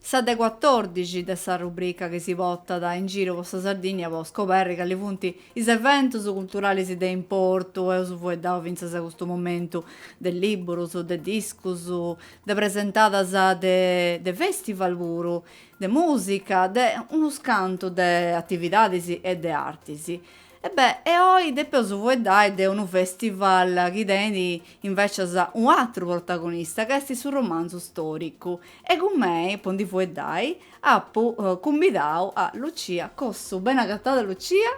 Sa de cuatòrdixi de sa rubrica chi si potat in giru po sa Sardìnnia po scoberri cali funt is eventus culturalis de importu, eus fueddau fintzas a custu momentu, de lìburus, de discus, de presentadas e de fèstival puru, de mùsica, de unus cantu de atividadis e de artis. E beh, e oi depeus fueddai de unu festival chi tenit invècias un'atru protagonista ca est su romanzu stòricu. E cun mei, po ndi fueddai, apu cumbidau a Lucia Cossu. Beni agatada Lucia!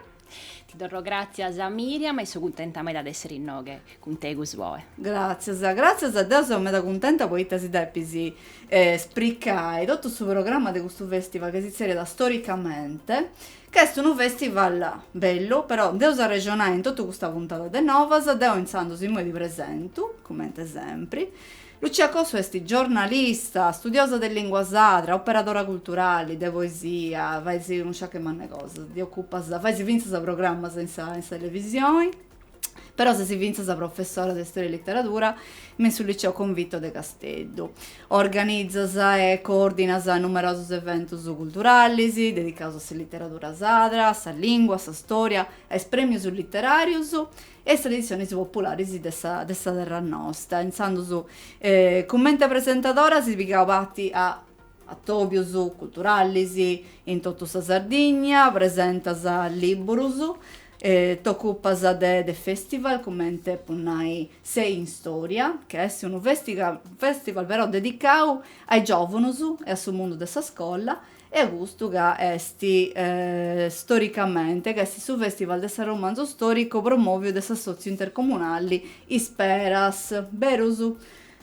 Ti torro gràtzias Miriam e so cuntenta meda de essere innoghe cun tegus oe. Gràtzias, gràtzias, deu seu meda cuntenta poita si depis spricai totu su programma de custu festival ca si tzerriat Storicamente. Ch'est unu festival bellu, però nd'eus a arrexonai in totu custa puntada de Novas, deu intzandus imoi ti presentu, comente sempri, Lucia Cossu est giornalista, studiosa de lingua sadra, operadora culturali, de poesia, fais unu sciacu mannu 'e cosas, ti ocupas, fais fintzas programmas in sa in sa televisioni, però ses fintzas professora de Storia e Literadura me su Liceo Convitto de Casteddu. Organizas e coordinas numerosus eventus culturalis dedicaus a sa literadura sadra, a sa lingua, a sa storia, a is premius literarius e a is traditzionis popularis de sa de sa terra nosta, intzandus cumente presentadora as pigau parti a Atòbios culturalis in totu sa Sardigna, presentas lìburus, t'ocupas de de festival comente po nai Sei in Storia, ca est unu festival però dedicau a is giòvunus e a su mundu de sa scola e a custu ca est Storicamente ca est su festival de s'arromanzu storicu promòviu de s'assòtziu intercomunali Isperas, berus?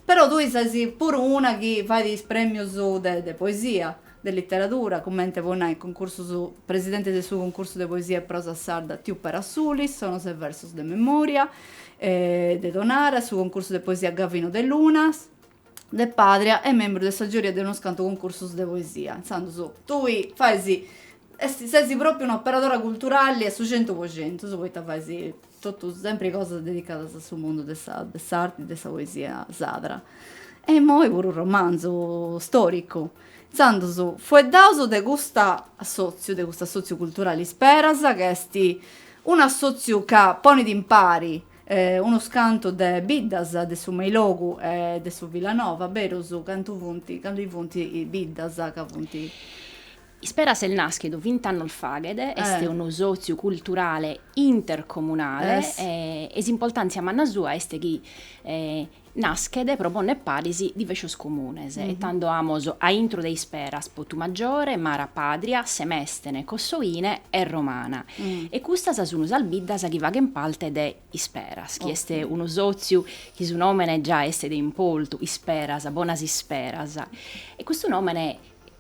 Però tui ses puru una chi fait is premius de poesia, de literadura, cumenti po nai cuncursus, presidenti de su cuncursu de poesia e prosa sarda Tiu Pera Sulis, Sonos e versos de memoria, de Tonara, su cuncursu de poesia Gavino De Lunas, de Pàdria e membru de sa giuria de unus cantu cuncursus de poesia. Intzandus tui fais, est, ses propriu un'operadora culturali a su centu po centus, poita fais Totu sempri cosas dedicadas a su mundu de sa de s'arti de sa poesia sadra. E immoi puru romanzu storicu. Intzandus fueddaus de custa assotziu, de custu assotziu culturali Isperas, ca esti un'assotziu ca ponit impari unus cantu de biddas de su Meilogu e de su Villanova, berus, cantu funt, cantu funti biddas ca funti. Isperas est nàschidu vint'annos faghet, est unu sòtziu culturale intercomunale e s'impoltàntzia manna sua est chi naschet pro pònnere paris divescios comunes e tando amus a intro de Isperas, Potumaggiore, Mara, Pàdria, Semèstene, Cossoine e Romana. E custas sun sas biddas chi faghent parte de Isperas, chi est unu sòtziu chi su nòmene già est de importu, Isperas, bonas isperas. E custu nòmene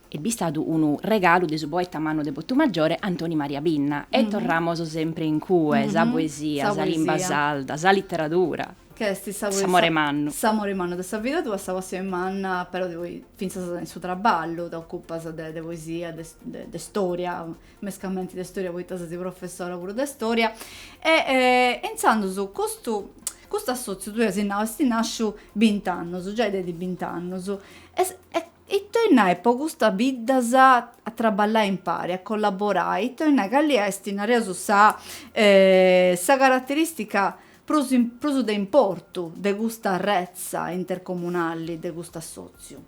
est bistadu unu regalu de su poeta mannu de Potumaggiore Antoni Maria Pinna e torramos sempre in cue sa poesia sa limba sarda sa litteradura ch'est sa poesia s'amore mannu s'amore mannu de sa vida tua sa passione manna però de poi finzas in su traballu t'occupas de de poesia de de storia mescamente de storia poita ses professora puru de storia e e intzandus custu custu assotziu tui asi nau est nasciu bint'annus giai tenit bint'annus e Ita 'ollit nai po custas biddas a traballai impari, a collaborai, ita 'ollit nai, cali est, nareus, sa sa carateristica prus prus de importu de custa arretza intercomunali de custu assòtziu?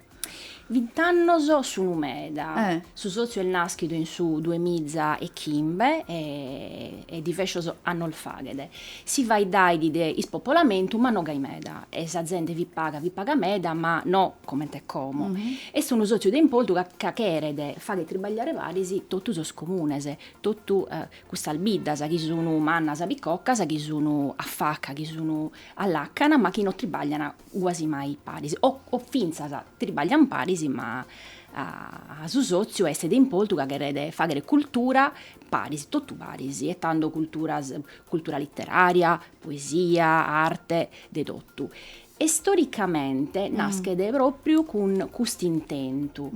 Bint'annos sunu meda. Su sòtziu est nàschidu in su duemiza e chimbe e divescios annos faghet. Si faeddaiat de ispopolamentu, ma no gai meda, e sa zente fit paga, fit paga meda, ma no comente como. Est unu sòtziu de importu ca ca cheret fagher tribagliare paris totu sos comunes, totu custas biddas chi sun mannas, picocas, chi sun a faca, chi sun a làcana, ma chi no tribaglian guasi mai paris, o o fintzas tribaglian paris, ma su sòtziu est de importu ca cheret fagher cultura paris, totu paris, e tando cultura, cultura literària, poesia, arte, de totu. E storicamente naschet pròpriu cun custu intentu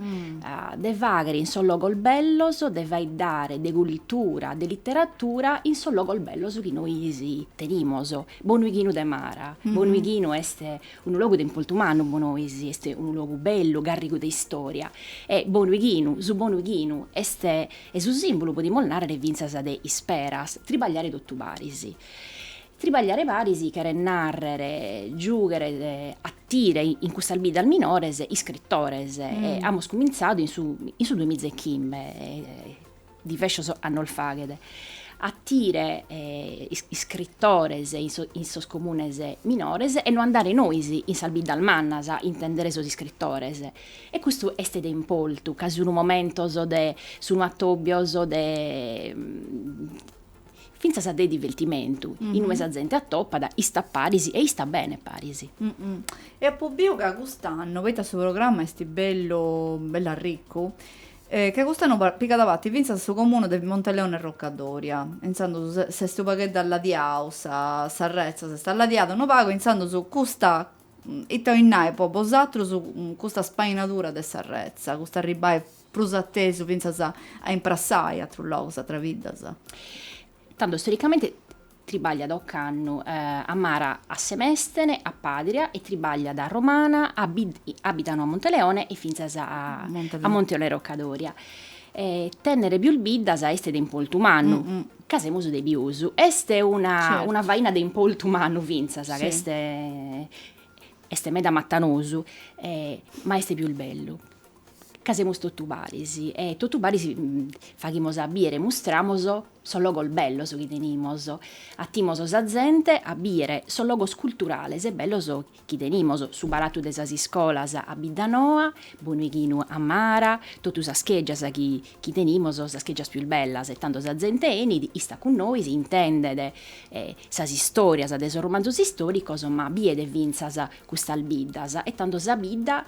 de fàghere in sos logos bellos, de faeddare de cultura, de literatura in sos logos bellos chi nois tenimus. Bonuighinu de Mara, Bonuighinu est unu logu de importu mannu pro nois, est unu logu bellu, garrigu de istòria e Bonuighinu, su Bonuighinu est E su sìmbulu podimus nàrrere fintzas de Isperas, tribagliare totu paris. Tribagliare paris cheret nàrrere giùghere, atire in custas biddas minores iscritores e amus cumintzadu in su in su duemiza e chimbe, divescios annos faghet, a atire iscritores in sos in sos comunes minores e no andare nois in sas biddas mannas a intendere sos iscritores E custu est de importu, ca sunu momentos de, sunu atòbios de, fintzas de divertimentu, in ue sa zente atopat, istat paris e istat bene paris. E apu biu, ca cust'annu, poita su programma est bellu bellu arricu, ca cust'annu pigat parti fintzas su comunu de Monteleone Roccadòria, e intzandus s'est unu pagheddu alladiau, sa s'arretza s'est alladiada unu pagu, intzandus custa Ita 'olit nai po bosatrus custa spainadura de s'arretza, custu arribbai prus a tesu fintzas a imprassai atrus logus, atras biddas? Tando storicamente tribàgliat ocannu a Mara a Semestene, a Padria e tribagliat a Romana, a Biddanoa Monteleone e fintzas a Monteleone Roccadòria. Tennere pius biddas est de importu mannu. Ca semus de pius. Est una una faina de importu mannu fintzas, ca est est meda matanosu, ma est pius bellu, ca semus totu paris e totu paris faghimos a bìdere, mustramos sos logos bellos chi tenimos, atimos sa zente a bìdere sos logos culturales e bellos chi tenimos, su palatu de sas iscolas a Biddanoa, Bonuighinu a Mara, totu sas chègias chi chi tenimos, sas chègias pius bellas e tando sa zente 'enit, istat cun nois, intendet sas istorias de sos romanzos istoricos ma bidet finzas custas biddas e tando sa bidda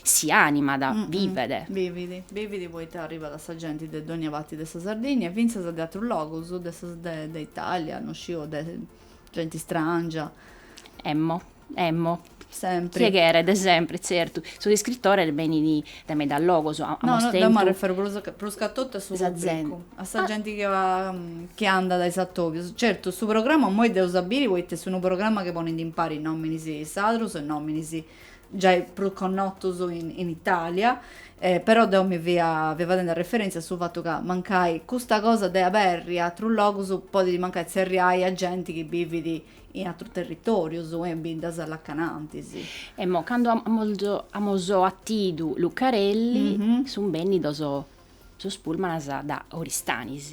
si animat, vivet. Bivit, bivit poita arribat sa genti de dogna parti de sa Sardinnia e finzas de atrus logus de sa de Italia, no sciu de Genti istràngia. Emmo, emmo. Sempri. Chie cheret, de sempri, tzertu. Sos iscritores benint dae medas logos. A, amos tentu. No, no, deo m'arreferu prus, prus ca totu a su pubbricu. A sa genti chi va, chi andat a is atobios. Certu, su programma immoi deus a biri poita est unu programma chi ponit impari nominis sardos e nominis. giai prus connotus in Italia, però deu mi fia fadendi arreferèntzia a su fatu ca mancai custa cosa de aberri atrus logus podit mancai tzerriai a genti chi bivit in atrus territòrius e in biddas a-lacanantis. Emmo, cando amus atidu Lucarelli, sunt bènnidos sos pullmans dae Oristanis.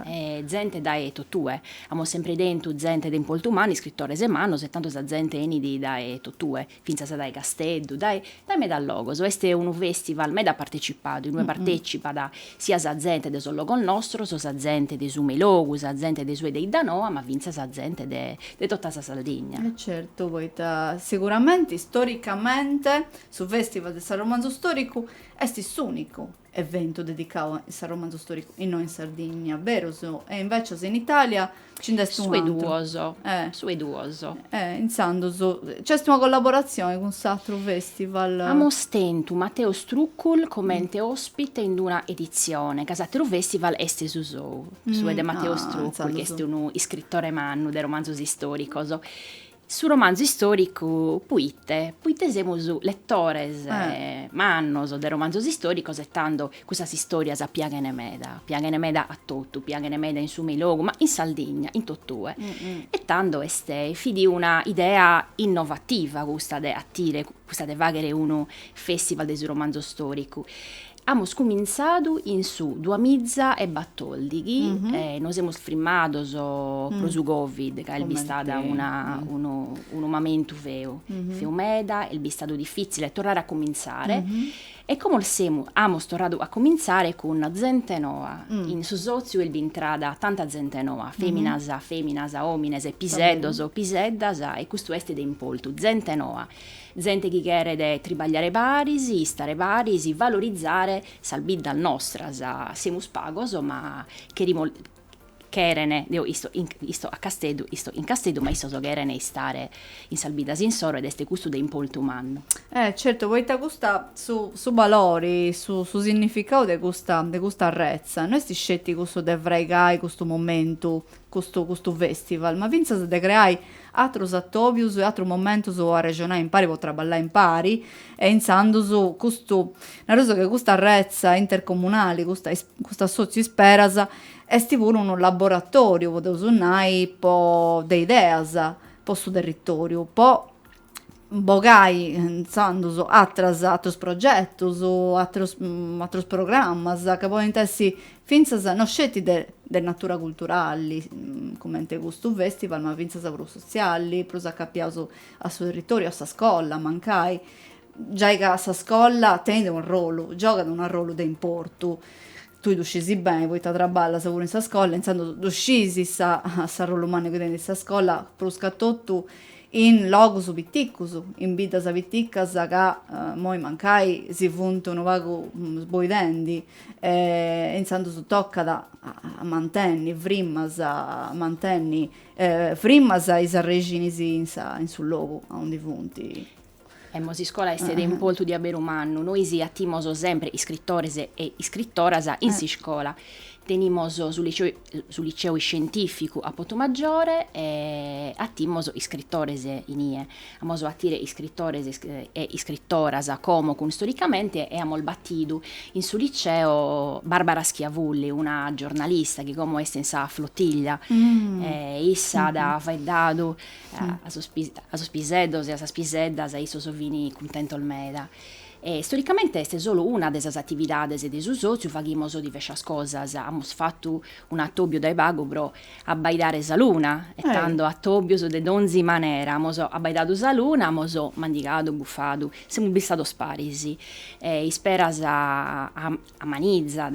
e zente dae totue, amos sempre tentu zente de importu mannu, iscritores e mannos e tando sa zente 'enit dae totue, fintzas dae Casteddu, dae dae medas logos, est unu festival meda partecipadu in ue partecipat sia sa zente de sos logos nostros, sa zente de su Meilogu, sa zente de su 'e 'Iddanoa, ma fintzas zente de de tota sa Sardigna. E certu, poita seguramente istoricamente su festival de s'arromanzu storicu est s'unicu eventu dedicau a s'arromanzu storicu innoi in Sardinnia, berus, e invecias in Italia nci nd'est Su 'e un'atru. duos, Eh. su 'e duos. E intzandus nc'est una collaboratzioni cun s'atru festival. Amus tentu Matteo Strukul comente ospite in d'una editzione, ca s'ateru festival est su sou, su 'e de Matteo Ah, Strukul, chi est unu iscritore mannu de romanzus istoricos, Su romanzu istòricu poite? Poite semus letores mannos de romanzos istòricos e tando custas istòrias piaghen meda, piaghen meda a totu, piaghen meda in su Meilogu, ma in Sardigna in totue e tando est, fit una idea innovativa custa de atire, custa de fàghere unu festival de su romanzu storicu Amus cumintzadu in su duas miza e batòrdighi e nos semus frimados pro su Covid ca est bistada una unu unu mamentu feu, feu meda, est bistadu difìtzile torrare a cumintzare e como semus amus torradu a cumintzare cun zente noa, in su sòtziu est bintrada tanta zente noa, fèminas fèminas, òmines, piseddos, piseddas e custu est de importu, zente noa Zente chi cheret tribagliare paris, istare paris, valorizare sas biddas nostras, semus pagos ma cherimus cheren, deo isto isto in Casteddu, isto in Casteddu ma issos cheren istare in sas biddas insoro ed est custu de importu mannu. Eh certu poita custu su su balori, su su significadu de custa de custa arretza no est sceti cussu de fraigai custu momentu custu custu festival, ma fintzas de creai atrus atobius e atrus momentus po arrexonai impari po traballai impari e intzandus custu nareus ca custa arretza intercomunali custa custu assotziu Isperas esti puru unu laboratoriu podeus nai po de ideas po su territoriu po bogai intzandus atras atrus progetus atrus atrus programmas ca podint essi fintzas no sceti de de natura culturali cumenti custu festival ma fintzas prus sotziali prus acapiaus a su territoriu a sa scola mancai giai ca sa scola tenit unu arrollu giogat unu arrollu de importu tui ddu scisi beni poita traballas puru in sa scola intzandus ddu scisi sa s'arrollu mannu chi tenit sa scola pruscatotu in logus piticus, in biddas piticas ca imoi mancai si funt unu pagu sboidendi e intzandus tocat a mantenni frimas, mantenni frimas is arrexinis in sa in su logu aundi funt. Emmo s'iscola est de importu di abberu mannu, nois attimos sempre iscrittores e iscrittoras in s'iscola, tenimos su liceo su liceo iscientificu a Putumajore e attimos iscrittores in ie, amos a attire iscrittores e iscrittoras como cun Storicamente e amos attidu in su liceo Barbara Schiavulli, una giornalista chi como est in sa flottiglia e issa at faeddadu a sos piseddos e a sas piseddas issos fini cuntentos meda e storicamente est solu una de sas atividades de su sotziu faghimos divescias cosas amos fattu un'atobiu dae pagu pro abbaidare sa luna e tando atobios de donzi manera amus abbaidadu sa luna amos mandigadu buffadu semus istados paris e isperas a Amanizat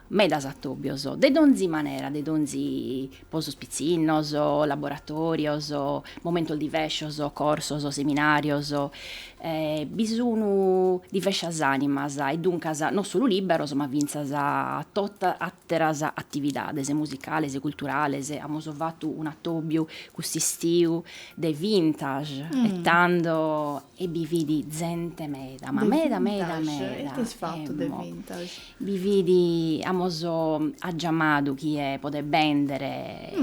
medas atòbios, de donzi manera, de donzi, po sos pitzinnos, laboratòrios, momentos divescios, corsos, seminàrios, bi sun divescias ànimas e duncas non solu lìberos ma fintzas totu àteras atividades musicales, culturales, amus fatu un'atòbiu cust'istiu de vintage e tando e bi fit zente meda, ma meda meda meda, bi fit, amos giamadu chie podet bèndere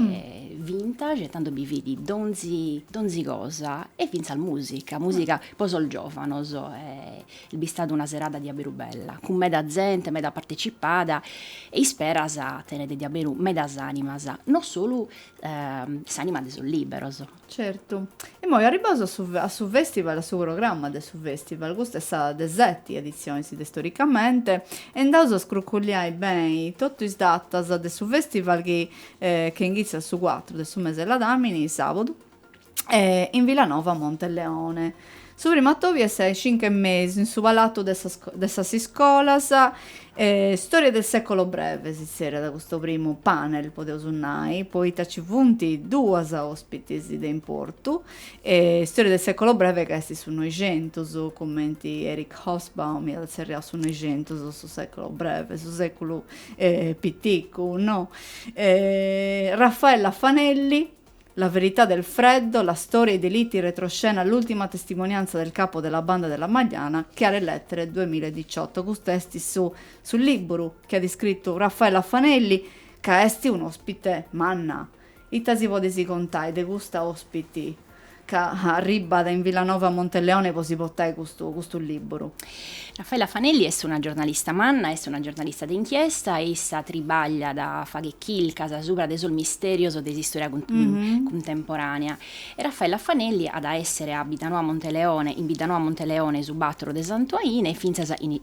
vintage e tando bi fit donzi donzi cosa e fintzas musica, musica po sos giovanos e b'at istadu una serada diaberu bella, cun meda zente, meda partecipada e isperas tenet diaberu medas animas, non solu s'anima de sos liberos Certu. Immoi arribbaus a su a su festival, a su programma de su festival, custa est sa de seti editzionis de Storicamente, e andaus a scruculliai beni totu is datas de su festival chi che inghitzat su cuatru de su mes'e ladamini, sàbadu, in Vilanova Monteleone. Su primu atobiu est a is cincu e mesu in su palatu de sas de sas iscolas. Storia del secolo breve si zerriat custu primu panel, podeus nai, poita ci funt duas ospitis de importu. Storia del secolo breve ca est su Noixentus, cumenti Eric Hobsbawm iat tzerriau su Noixentus, su secolo breve, su seculu piticu, no. Raffaella Fanelli, La verità del freddo, la storia, i delitti, retroscena, l'ultima testimonianza del capo della banda della Magliana, Chiarelettere, 2018. Custu est su, su lìbburu chi at iscritu Raffaella Fanelli, ca est un'òspite manna. Ita si podes contai de custa òspiti? ca arribat in Villanova Monteleone po si potai custu custu libru. Raffaella Fanelli est una giornalista manna, est una giornalista de inchiesta, issa tribagliat, faghet chilcas subra de sos misterios de s'istoria cuntemporanea. E Raffaella Fanelli at a essere a Biddanoa Monteleone, in Biddanoa Monteleone su battor de Santuaine e fintzas in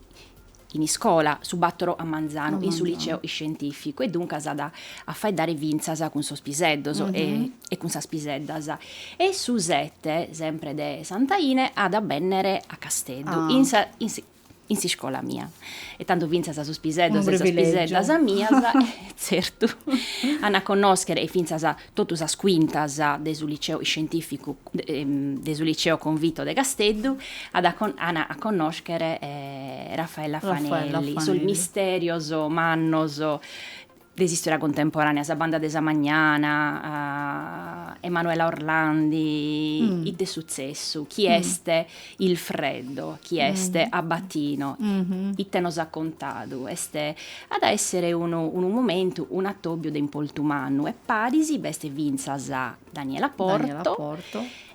in iscola, su bàtoro a manzanu, in su liceo iscientìficu, e duncas at a faeddare fintzas cun sos piseddos e cun sas piseddas. E su sete, sempre de Santuaine, at a bènnere a Casteddu, in sa in s'iscola mia. E tando fintzas sos piseddos e sas piseddas mias, tzertu, an a connòschere fintzas totu sas quintas de su liceo iscientificu de su liceo Convitto de Casteddu at ana a connoscher Raffaella Fanelli, sos misterios mannos de s'istora contemporanea, sa banda de sa Magliana, Emanuela Orlandi, ite est sutzessu, chi est Il freddo chi est Abbatino, ite nos at contadu, est, at a èssere unu unu momentu, un'atòbiu de importu mannu e paris b'est fintzas Daniela Porto,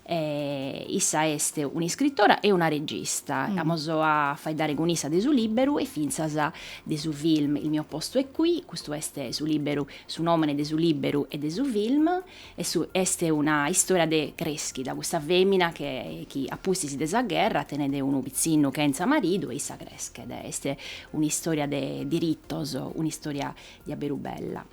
issa est un'iscritora e una regista, amus a faeddare cun issa de su lìberu e fintzas de su film Il mio posto è qui, custu est su lìberu, su nòmene de su lìberu e de su film. E su est una istoria de creschida, cussa femina che chi a pustis de sa gherra tenet unu pitzinnu chentza maridu e issa creschet, est una istoria de diritos, una istoria diaberu bella.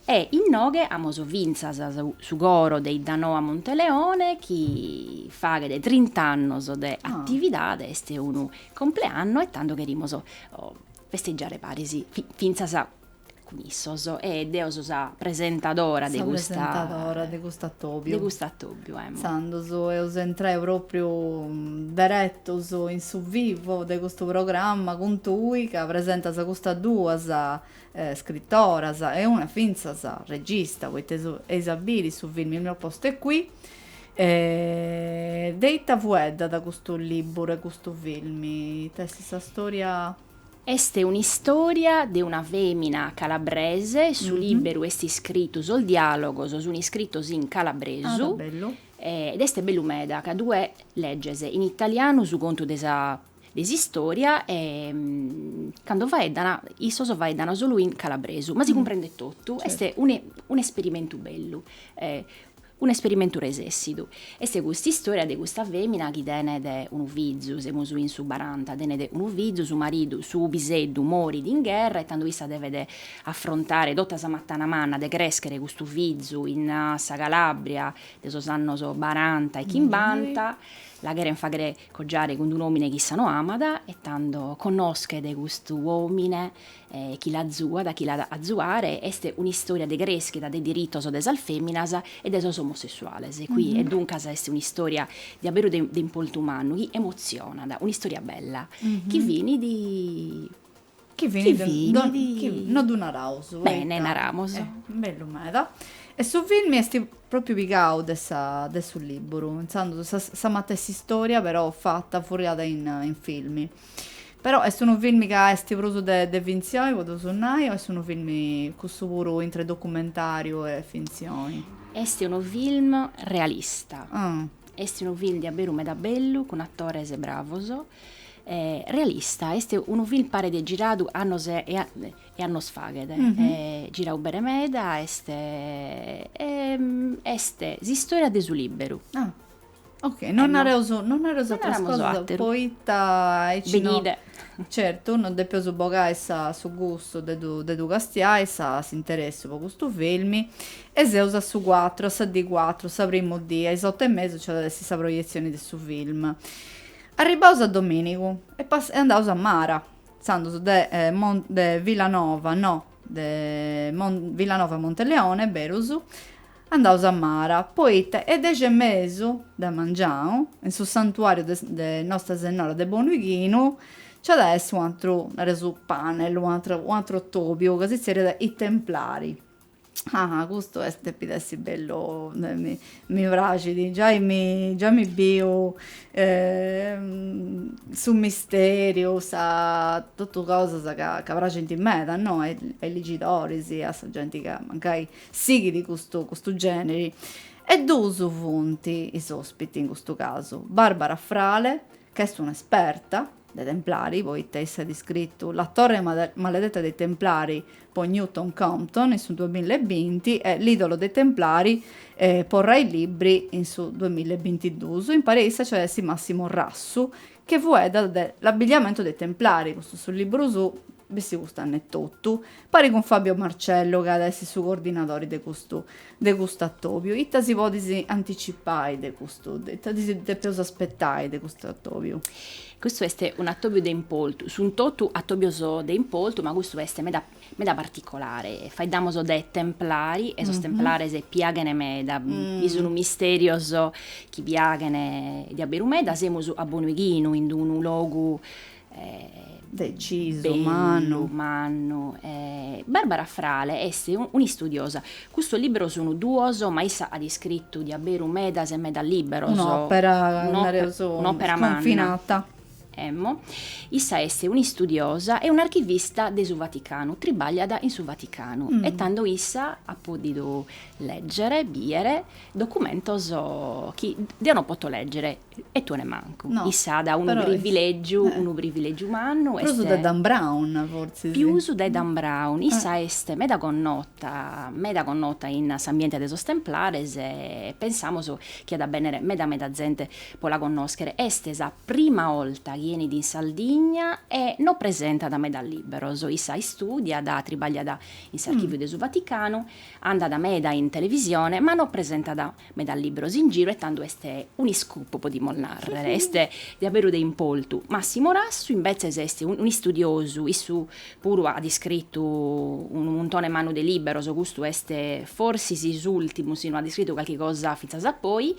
E innoghe amos fintzas su coro de 'Iddanoa Monteleone chi faghet trint'annos de atividade, est unu compleanno e tando cherimus festeggiare paris fintzas cun issos e deo so sa presentadora de custa sa presentadora de custu atobiu de custu atobiu emo intzandus eus a intrai propriu deretus in su vivo de custu programma cun tui ca presentas custas duas scrittoras e una fintzas regista poita eis a biri su film il mio posto è qui de ita fueddat custu liburu e custu film ita est sa storia Est un'istòria de una fèmina calabrese, su lìberu est iscritu, sos diàlogos sunt iscritos in calabresu, ed est bellu meda, ca tue leges in italianu su contu de sa de s'istòria e cando faeddan, issos faeddan solu in calabresu, ma si cumprendet totu, est un'esperimentu bellu. Un'esperimentu resessidu est cust'istòria de custa fèmina chi tenet unu fizu, semus in su baranta, tenet unu fizu, su maridu, su piseddu, morit in gherra e tando issa devet afrontare tota sa matana manna de crèschere custu fizu in sa Calàbria de sos annos baranta e chimbanta, la cheren fàghere cogiare cun d'un'òmine chi issa no amat e tando connoschet custu òmine E chi l'azuat, chi l'at a azuare, est un'istòria de crèschida de diritos de sas fèminas e de sos omosessuales, qui, e duncas est un'istòria diaberu de de importu mannu, chi emotzionat, un'istòria bella, chi finit, chi finit, non ddu naraus, poita, bene, naramus, est bellu meda, e su filmi est pròpriu pigau de sa de su lìburu, intzandus sa matessi istòria però fata, furriada in filmi. Però est unu filmi ca est prus de de fintzioni, po ddu su nai, o est unu filmi cussu puru intre documentariu e fintzioni? Est unu film realista. Ah. Est unu film diaberu meda bellu, cun atores bravos. realista, est unu film paret giradu annos e e annos faghet. giradu bene meda est est s'istòria de su lìberu. Ah Ok, eh, non nareus, non nareus non atras cosas, àteru, poita aici no, certu, non depeus bogai sa, su gustu de ddu, de ddu castiai, sa, s'interessi po custu filmi, e seus a su cuatru, a sa dì cuatru, sa primu dì, a is otu e mesu nci at a essi sa proietzioni de su film. Arribaus a dominigu e pas, e andaus a Mara, intzandus de, eh, Mon, de Villanova, no, de Mon, Villanova Monteleone, berus, Andaus a Mara, poita a is dexi e mesu de mangianu, in su santuàriu de de Nosta Sennora de Bonu Ighinu, nci at a essi u atru, nareus, panel, u atru u atru atòbiu, ca si zerriat I Templari. Ah, custu est, depit essi bellu, mi mi praxit, giai mi giai mi biu su misteriu, sa totu cosas ca ca praxint meda, no, a is legidoris, a sa genti ca mancai Sighit custu custu gèneri. E duus funt is òspiti in custu casu, Barbara Frale, ca est un'esperta de Templari, poita issa at iscritu La torre maledetta dei Templari po Newton Compton in su duamilla e binti e L'idolo dei Templari po Rai Libri in su duamilla e bintiduus. Impari a issa nci at a essi Massimo Rassu, che fueddat de L'abbigliamento dei Templari, custu su libru suu, Bessi custu annu etotu. Pari cun Fabio Marcello ca at a essi su cordinadori de custu de custu atobiu. Ita si podis anticipai de custu, ita si depeus aspetai de custu atobiu? Custu est un'atobiu de importu, sunt totu atobios de importu, ma custu est meda meda particolari, faeddamus de templares e sos templares piaghen meda, est unu misteriu chi piaghen diaberu meda, semus a Bonuighinu in d'unu logu de ammaju mannu mannu e Barbara Frale est un'istudiosa. Custos libberos sunu duos, ma issa at iscrittu diaberu medas e medas libberos. Un'opera nareus un'opera manna. Scunfinada. Emmo. Issa est un'istudiosa e un'archivista de su Vaticanu, tribagliat in su Vaticanu e tando issa at podidu leggere, biere documentos chi deo no poto leggere. E tue nemancu. No. Issa at unu privilègiu, unu privilègiu mannu est. Prus de Dan Brown, fortzis. Pius de Dan Brown. Issa est meda connota, meda connota in s'ambiente de sos Templares e pensamus chi at a bènnere meda meda zente pro la connòschere. Est sa prima 'olta chi 'enit in Sardigna e no presentat meda lìberos. Issa istùdiat, tribagliat in s'Archìviu de su Vaticanu, andat meda in televisione ma no presentat Meda lìberos in giru e tando est un'iscoop, podimus nàrrere, est diaberu de importu. Massimo Rassu imbetzes est un'istudiosu, issu puru at iscritu unu muntone mannu de lìberos, custu est forsis s'ùrtimu, si no at iscritu calchi cosa fintzas a poi.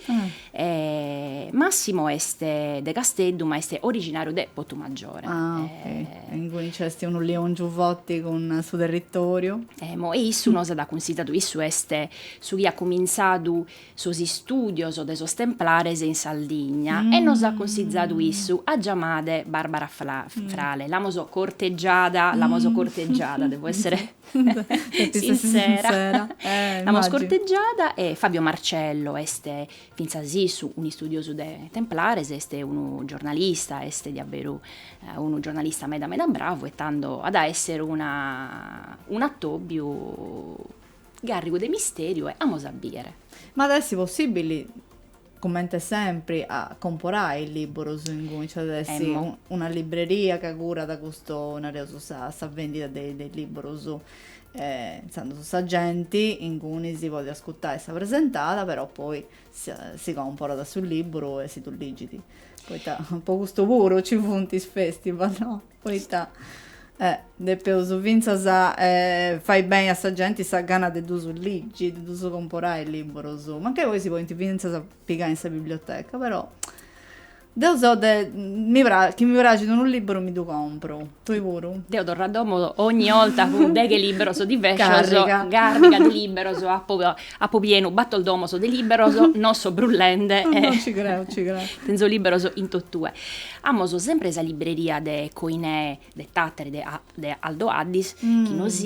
Massimo est de Casteddu ma est originàriu de Putumajore. Ah okay. E inguni nc'est unu leongiu forti cun su territòriu. Emo, e issu nos at cunsigiadu, issu est su chi at cumintzadu sos istùdios de sos Templares in Sardigna e nos at cunsigiadu issu a giamare Barbara Frale, l'amus cortegiada, l'amus cortegiada, devo essere sinsera, l'amus cortegiada e Fabio Marcello est fintzas issu un'istudiosu de Templares, est unu giornalista, est diaberu unu giornalista meda meda bravu e tando at a esser una un'atòbiu Gàrrigu de mistèriu e amus a bìdere. Ma at a essi possìbili, comente sempri, a comporai is lìburus inguni? Nc'at a essi una libreria ca curat custu, nareus, sa sa vèndida de de is lìburus? Intzandus sa genti inguni si podit ascutai sa presentada, però poi si comporat su lìburu e si ddu ligit, poita po custu puru nci funt is festival, no? Poita depeus fintzas fai beni a sa genti sa gana de ddus ligi, de ddus comporai librus, mancai poi si podint fintzas pigai in sa biblioteca, però deu seu de, mi praxit, chi mi praxit unu libru mi ddu compru. Tui puru? Deu torru a domu 'onnia 'olta cun deghe liburus diversos. Carriga. Carriga de liburus, apu apu pienu bator domos de liburus, no so brullende. No, no, ci creu, ci creu. Tenzu liburus in totue. Amus sempre sa libreria de Koinè, de Tàtari, de de Aldo Addis, chi nos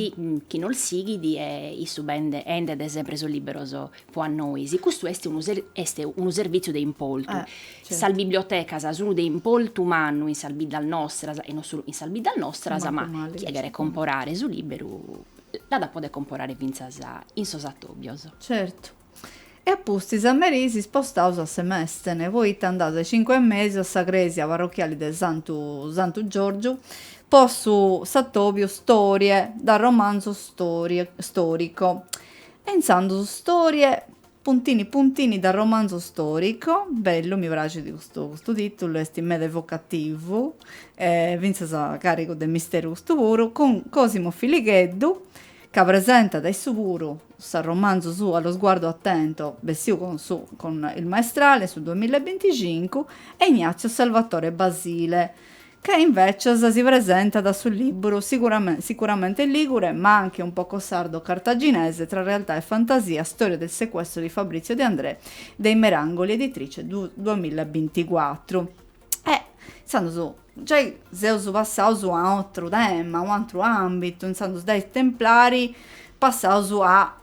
chi nos sighit e issu bende 'endet sempre sos liberos pro a nois. Custu est unu est unu servìtziu de importu. Sas bibliotecas sun de importu mannu in sas biddas nostras e non solu in sas biddas nostras, ma chie cheret comporare su libberu l'at a poder comporare fintzas in sos atòbios. Certu. E a pustis a meri si spostaus a Semestene, poita andaus a is cincu e mesu a sa cresia parrochiali de Santu Santu Giorgiu po su s'atobiu Storie da romanzo storico e intzandus Storie puntini puntini da romanzo storico, bellu mi praxit custu custu titulu est meda evocativu e fintzas carigu de misteru custu puru, cun Cosimo Filigheddu ca presentat issu puru s'arromanzu suu Allo sguardo attento, bessiu cun su cun il maestrale in su duamilla e binticincu, e Ignazio Salvatore Basile, ca invecis si presentat su libru Sicuramente ligure, ma anche un poco sardo cartaginese, tra realtà e fantasia, Storia del sequestro di Fabrizio De Andrè, de I Merangoli Editrice, du duamilla e binticuatru. E intzandus giai seus passaus a atru tema, un'atru ambitu, intzandus dai templari passaus a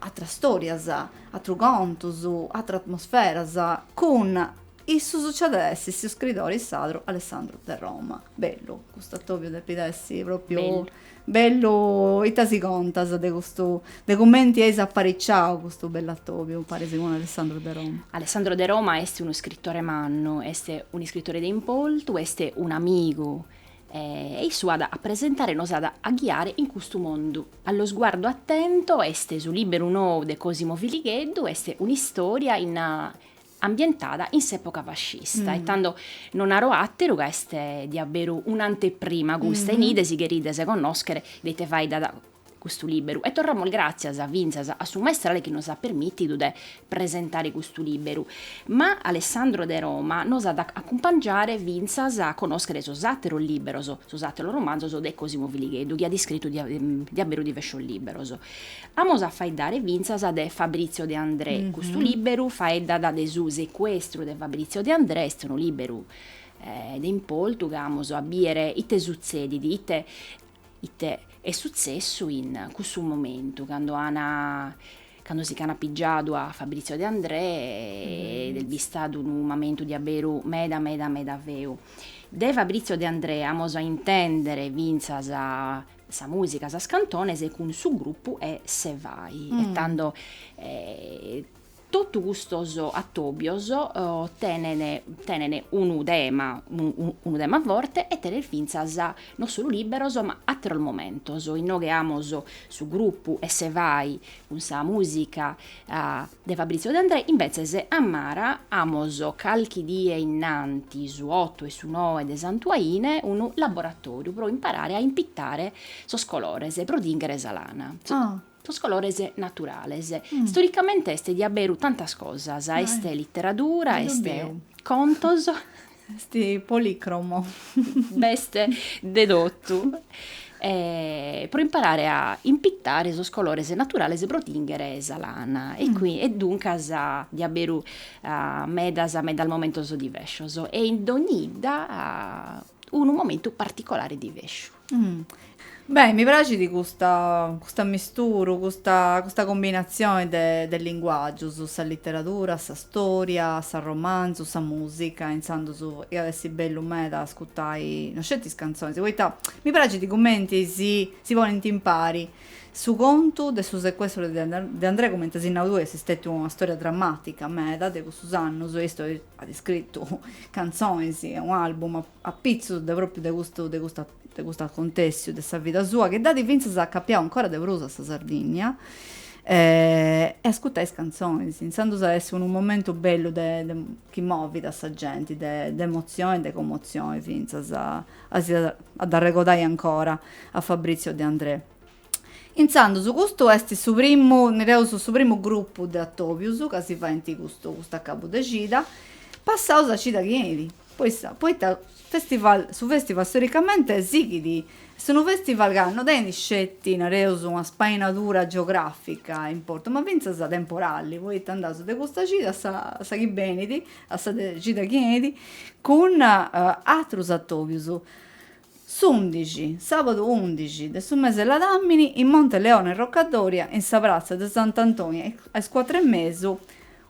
atras storias, atrus contus, atras atmosferas, cun issus ci at a essi su scritori sadru Alessandro De Roma, bellu, custu atobiu depit essi propriu Bellu ita si contas de custu, de cumenti eis apariciau custu bellu atobiu paris cun Alessandro de Roma? Alessandro de Roma est un'iscritore mannu, est un'iscritore de importu, est un'amigu e issu at a presentare, nos at a ghiare in custu mondu. Allo sguardo attento est su liberu nou de Cosimo Filigheddu, est un'istoria in. ambientada in s'època fascista e tando no naro àteru ca est diaberu un'anteprima custa nighe si cherides connòschere de ite faeddat custu lìberu e torramus gràtzias fintzas a su Maestrale chi nos at permìtidu de presentare custu lìberu. Ma Alessandro de Roma nos at a acumpangiare fintzas a connòschere sos àteros lìberos, sos àteros romanzos de Cosimo Filigheddu chi at iscritu diaberu diversos lìberos. Amus a faeddare fintzas de Fabrizio De Andrè, custu lìberu faeddat de su secuestru de Fabrizio De Andrè, est unu lìberu de importu ca amus a bìdere ite sutzedit, ite ite est sutzessu in cussu momentu cando an cando si ch'an apigiadu a Fabrizio De Andrè ed est bistadu unu mamentu diaberu meda meda meda feu. De Fabrizio De Andrè amus a intèndere fintzas sa musica, sas cantones cun su gruppu 'e se fai', e tando totu custos atobios tenen tenen unu tema, unu tema forte e tenen fintzas non solu libberos ma atteros momentos, inoghe amos su gruppu 'e se fai' Cun sa mùsica de Fabrizio De Andrè imbetzes a Mara amos calchi die innanti su otu e su noe de Santu Aine unu laboratòriu pro imparare a impitare sos colores pro tinghere sa lana, sos colores naturales. Storicamente est diaberu tantas cosas, est literadura, est contos. Est policromo. B'est de totu. Pro imparare a impitare sos colores naturales pro tinghere sa lana e e duncas diaberu medas medas momentos diversos e in dònnia 'idda unu momentu particolare diversu. Beh, mi praxit custa custa misturu, custa custa combinatzione de de linguàgius, sa literadura, sa stòria, s'arromanzu, sa mùsica, intzandus iat essi bellu meda ascutai no sceti is cantzonis, poita mi praxit cumenti si si ponint impari su contu de su secuestru de De Andrè, cumenti as nau tui, est stètiu una stòria drammàtica meda de cussus annus e issu at scritu cantzonis e un'album apitzus de pròpiu de custu de custu de custu acontèssiu de sa vida sua, chi dd'at fintzas acapiau ancora de prus a sa Sardìnnia, e ascurtai is cantzonis, intzandus at essi unu momentu bellu de de chi movit a sa genti, de de emotzioni e de comotzioni fintzas, at a dd'arregodai ancora a Fabrizio De Andrè. Intzandus custu est su primu, nereus, su primu grupu de atobius ca si faint custu custu acabu de cida, passaus a cida chi 'enit. Poita, poita festival, su festival storicamente sighit a essere unu festival ca no tenit sceti, nareus, una spainadura geografica de importu, ma fintzas temporali, poita andaus de custa cida a sa a sa chi benit, a sa cida chi 'enit, cun atrus atobius. S'undixi, sàbadu undixi, de su mese de ladàmini, in Monteleone Rocca Doria, in sa pratza de Sant'Antoni, a is cuatru e mesu,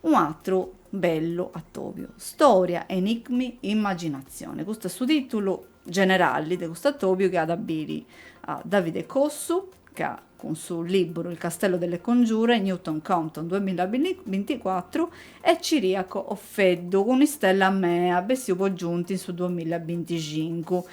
unu atru bellu atòbiu, Storia, enigmi, immaginazione. Custu est su tìtulu generali de custu atòbiu chi at a biri a Davide Cossu, ca cun su lìburu Il castello delle congiure, Newton Compton, duamilla binticuatru, e Ciriaco Offeddu cun Istella mea, bessiu po Giunti in su duamilla binticincu.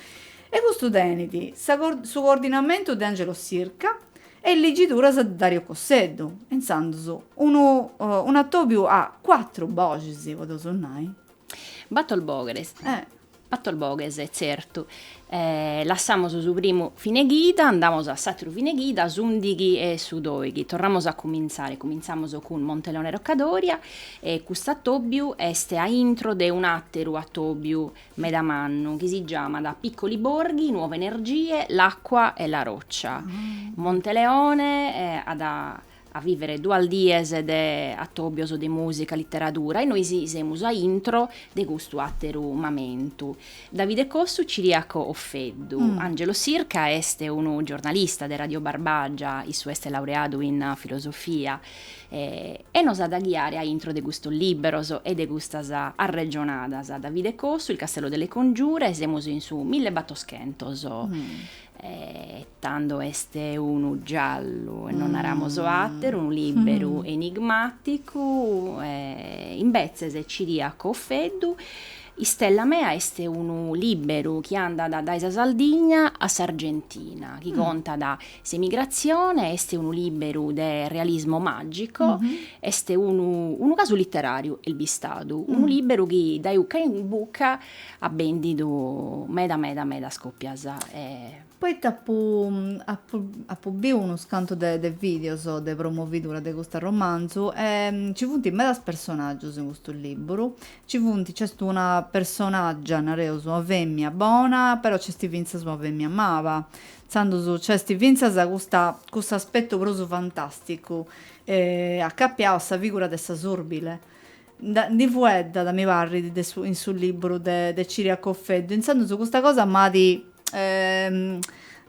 E custu tenit su coordinamentu de Angelo Sirca e is ligiduras de Dario Cosseddu, e intzandus unu un'atòbiu a cuatru boxis, podeus nai. Bator boghes. Eh! Bator boghes, tzertu. Lassamos su primu fineghida, andamos a s'àteru fineghida, s'ùndighi e su dòighi. Torramos a cumintzare, cumintzamos cun Monteleone Roccadoria e cust'atòbiu est a intro de un'àteru atòbiu meda mannu chi si giamat Piccoli Borghi, Nuove Energie, L'Acqua e la Roccia. Monteleone at a vivere duas dies de atobios de musica, litteradura e nois semus a intro de custu atteru mamentu. Davide Cossu, Ciriaco Offeddu. Angelo Sirca est unu giornalista de Radio Barbagia, issu est laureadu in filosofia e nos at a ghiare a intro de custos libberos e de custas arregionadas. Davide Cossu, Il castello delle congiure, semus in su millebattoschentos e Tando est unu giallu e non naramos àteru, unu lìberu enigmàticu, e imbetzes Ciriaco Offeddu, Istella mea est unu lìberu chi andat dae sa Sardigna a s'Argentina, chi contat s'emigratzione, est unu lìberu de realismo màgico, est unu unu casu literàriu, est bistadu, unu lìberu chi dae bucca in bucca at bèndidu meda meda medas còpias. Poita apu apu apu biu unus cantu de de videos de promovidura de custu arromanzu e ci funt medas personaggius in custu libburu, ci funt, nc'est una personaggia, nareus, una femia bona, però nc'est fintzas una femia mala, intzandus nc'est fintzas custa custu aspettu prus fantasticu acapiau a sa figura de sa surbile Ndi fueddat, mi parrit, de su in su liburu de de Ciriaco Offeddu, intzandus custa cosa m'at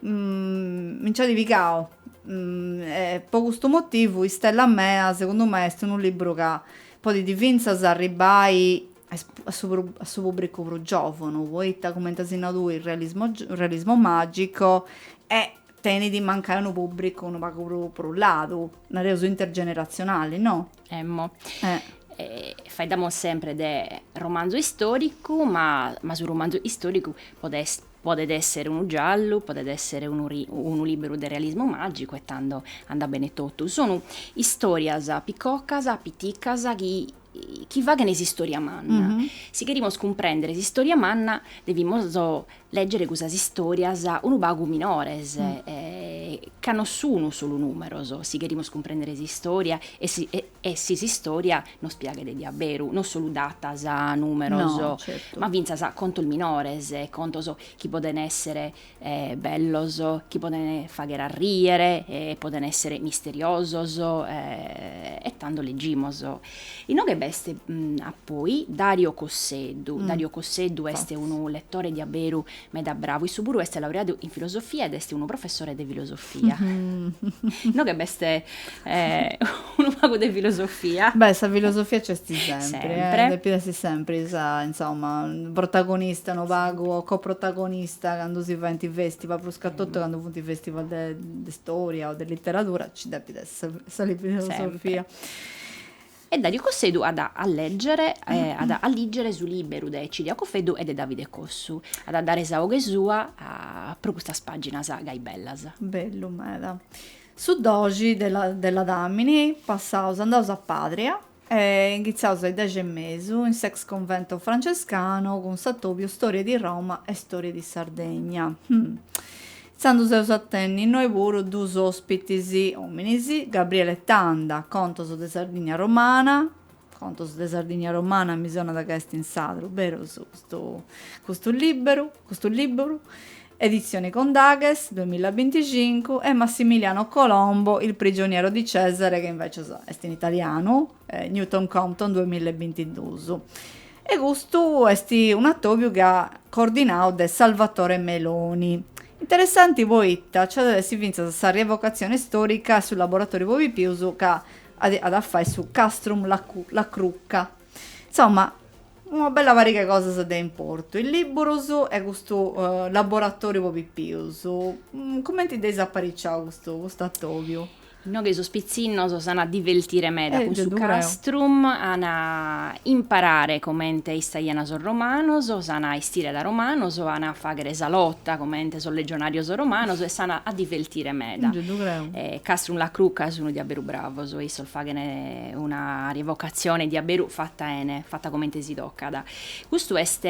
mi nc'at pigau e po custu motivu Istella mea segundu mei est unu liburu ca podit fintzas arribbai a is a su prus a su pubbricu prus giovanu, poita cumenti as nau tui realismo realismo magico e tenit mancai unu pubbricu unu pagu prus prus ladu, nareus intergenerazionali, no? Emmo. Eh. Eh, faeddamus sempre de romanzu istoricu, ma, ma su romanzu istoricu podet podet esser unu giallu, podet esser unu unu libberu de realismu magicu e tando andat bene totu. Sunu istorias piccocas, piticas chi chi faghen s'istoria manna. Si cherimus cumprender s'istoria manna devimus Lègere cusas istòrias unu pagu minores, ca no sunu solu nùmeros, si cherimus cumprèndere s'istòria e si s'istòria nos piaghet diaberu, no solu datas, nùmeros, ma fintzas contos minores, contos chi podent èssere bellos, chi podent fàghere a rìere, podent èssere misteriosos e tando leggimus Inoghe b'est a poi Dario Cosseddu, Dario Cosseddu est unu letore diaberu meda bravu, issu puru est laureadu in filosofia ed est unu professore de filosofia. Inoghe b'est unu pagu de filosofia. Beh, sa filosofia nc'est sempri, depit essi sempri sa, insomma, protagonista unu pagu o coprotagonista candu si faint festival, prus ca totu candu funt festival de istòria o de literatura nci depit essi sa filosofia. E Dariu Cosseddu at a lègere at a lìgere su lìberu de Ciriaco Offeddu e de Davide Cossu. At a dare sa 'oghe sua pro custas pàginas gai bellas. Bellu meda. Su doxi de ladàmini passaus andaus a Pàdria e inghitzaus a is dexi e mesu in s'ex convento francescano cun s'atòbiu Storie di Roma e Storie di Sardegna. Tandus eus a tenni innoi puru duus ospitis ominis, Gabriele Tanda, Contos de Sardigna Romana, Contos de Sardigna Romana mi sonat ca est in sardu, berus, custu custu libberu, custu liburu, Edizioni Condaghes, duemilaabinticincu, e Massimiliano Colombo, Il prigioniero di Cesare ca invecias est in italianu, Newton Compton duas milla e bintidus e custu est un'atobiu chi at a essi cordinau de Salvatore Meloni. Interessanti poita nci at essi fintzas sa rievocazione istorica e su laboratoriu po pipius ca at a fai su Castrum La Crucca. Insomma una bella pariga 'e cosas de importu, is libburus e custu laboratoriu po pipius. Cumenti dd'eis apariciau custu custu atobiu? Inoghe sos pitzinnos s'an a divertire meda cun su castrum, an a imparare comente istaian sos romanos, s'an a 'estire da romanos, an a faghere sa lota comente sos legionarios romanos e s'an a divertire meda. Castrum La Crucca sun diaberu bravos, issos faghen una rievocazione diaberu fatta 'ene, fatta comente si tocat. Custu est